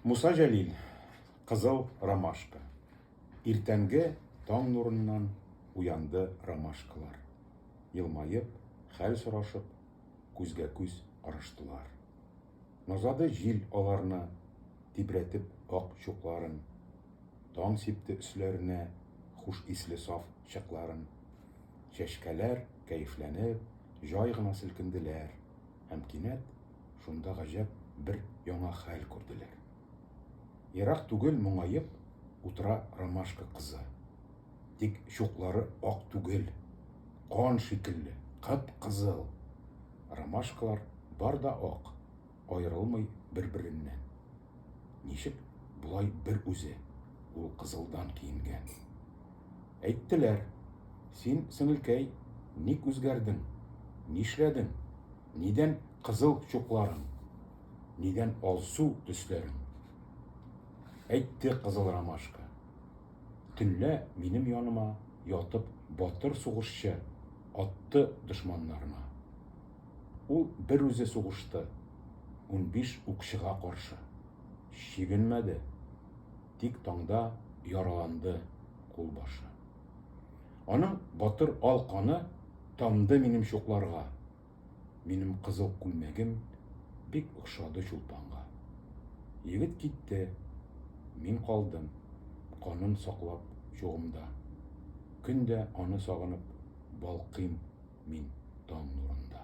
Муса Җәлил, Кызыл ромашка. Иртәнге таң нурыннан уянды ромашкалар. Елмаеп, хәл сорашып, күзгә-күз караштылар. Назады җил аларны, тибрәтеп ак чукларын. Таң сипте өсләренә хуш исле саф чыкларын. Чәчкәләр, кәефләнеп, җай гына селкенделәр һәм кинәт Шунда гаҗәп бер яңа хәл күрделәр. Ерак түгел моңаеп утыра ромашка кызы. Тик чуклары ак түгел, кан шикелле, кып-кызыл. Ромашкалар бар да ак, аерылмый бер-береннән. Ничек болай бер үзе, ул кызылдан киенгән. Әйттеләр, син, сеңелкәй, ник үзгәрдең, нишләдең, Нидән кызыл чукларың? Нидән алсу төсләрең? Әйтте кызыл ромашка. Төнлә минем яныма ятып батыр сугышчы атты дошманнарына. Ул бер үзе сугышты, унбиш укчыга каршы. Чигенмәде. тик таңда яраланды кулбашы. Аның батыр ал каны тамды минем чукларга, минем кызыл күлмәгем бик охшады чулпанга. Егет китте, мин калдым, канын саклап чугымда. Көн дә аны сагынып балкыйм мин таң нурында.